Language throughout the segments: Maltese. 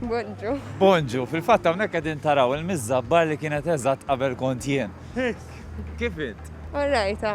Bonġu. Bonġu, fil-fatt hawnhekk qegħdin taraw il-miżżabbar li kienet eżatt qabel kont jien. Kif int? Orrajta.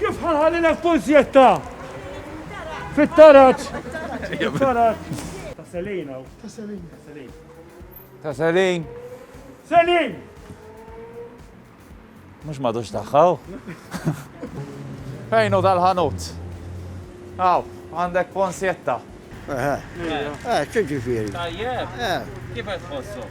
Kif ħa nħallilek kunzjetta? Fit-taraġ. Ta' Selin hawn. Ta' Selin. Ta' Selin. Selin! Mhux m'għadux tagħha hu. Fejn hu dal-ħanut? Hawn, għandek kunzjetta. Eħe. Eħe, x'ġifieri? Tajjeb. Kif qed tħossu?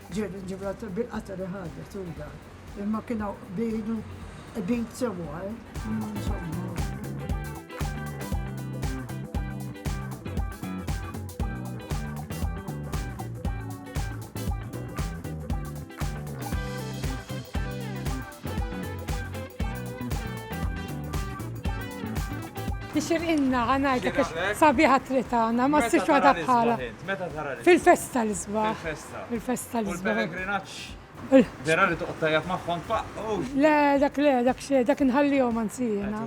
Ġie minn Ġibraltar bil-qatgħa li ħadet u dak. Imma kien hawn qbil u qbid sewwa, insomma. Tixirqilna ħa ngħidlek għax sabiħa t-triq tagħna, ma ssibx waħda bħalha. Meta tara l-isbaħ int? Meta tara l-isbaħ? Fil-festa l-isbaħ. Il-festa tal-isbaħ. Il-pellegrinaġġ. Vera li toqgħod tajjeb magħhom tfaqqgħu. Le, dak le, dak xejn, dak inħallihom anzi jiena.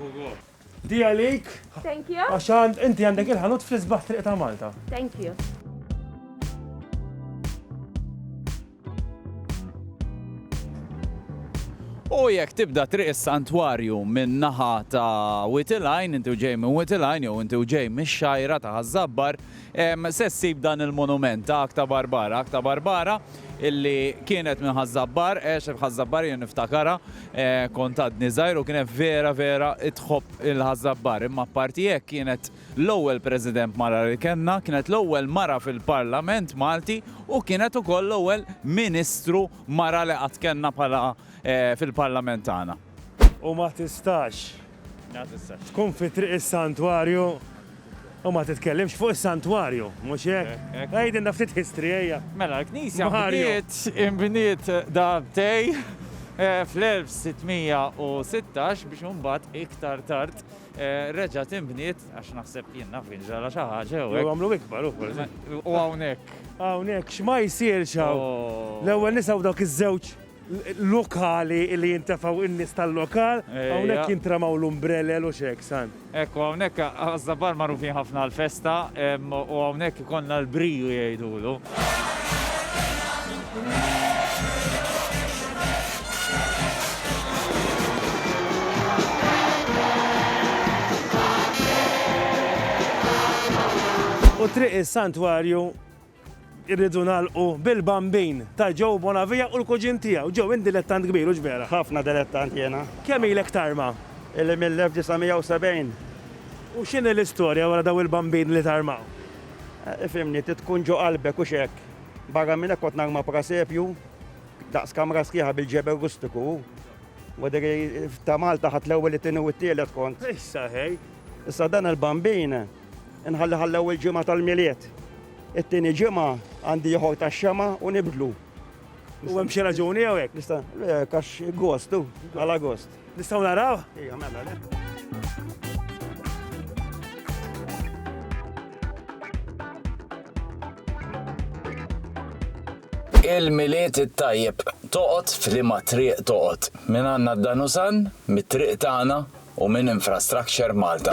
Di għalik. Thank you. Għax għand inti għandek il-ħanut fl-isbaħ triq ta' Malta. Thank you. U jekk tibda triq is-santwarju minn naħa ta' Witilajn, inti ġej minn Witilajn jew inti ġej mix-xajra ta' Ħażabbar, Se ssib dan il-monument ta' Akta Barbara, Akta Barbara illi kienet minn Ħaż-Żabbar, għex f'Ħaż-Żabbar jien niftakarha, kont għadni żgħir u kienet vera vera tħobb il Ħaż-Żabbar. Imma apparti hekk kienet l-ewwel President mara li kellna, kienet l-ewwel mara fil-Parlament Malti u kienet ukoll l-ewwel Ministru mara li qatt kellna bħala fil-Parlament tagħna. U ma tistax. Tkun fi triq is-santwarju u ma titkellimx fuq is-santwarju, mhux hekk? Għidilna ftit history ejja. Mela l-knisja bniet inbniet darbtej fl-1616 biex imbagħad iktar tard reġgħet inbniet għax naħseb jien naf kien ġara xi ħaġa jew hekk. Għamlu ikbar u forsi. U hawnhekk. Hawnhekk x'ma jsirx hawn. L-ewwel nisimgħu dawk iż-żewġ. lokali li jintefgħu in-nies tal-lokal, hawnhekk jintramaw l-umbrelel u x'hekk, san. Hekk u hawnhekk Ħaż-Żabbar magħrufin ħafna għall-festa u hawnhekk ikollna l-briju jgħidulu. U triq is-Santwarju Irridu nagħlqu bil-Bambin ta' Joe Bonavia u l-kuġin tiegħu. Joe, int dilettant kbir, hux vera? Ħafna dilettant jiena. Kemm ilek tarma? Illi mill-1970. U x'inhi l-istorja wara dawn il-Bambini li tarmaw? Ifhimni, trid tkun ġo qalbek, hux hekk? Barra minn hekk kont narma prasepju daqs kamra sħiħa bil-ġebel rustiku u, wadri, ta' Malta ħadt l-ewwel, it-tieni u t-tielet kont. Issa ħej! Issa dan il-Bambin. Inħalli ħa l-ewwel ġimgħa tal-Milied. It-tieni ġimgħa għandi ieħor tax-Xemgħa u nibdlu. U hemm xi raġuni jew hekk? Nista' għax gost u għal Agost. Nistgħu naraw? Ejja, mela le. Il-Milied it-tajjeb toqgħod f'liema triq toqgħod. Minn għandna d-Danusan, mit-triq tagħna, u minn Infrastructure Malta.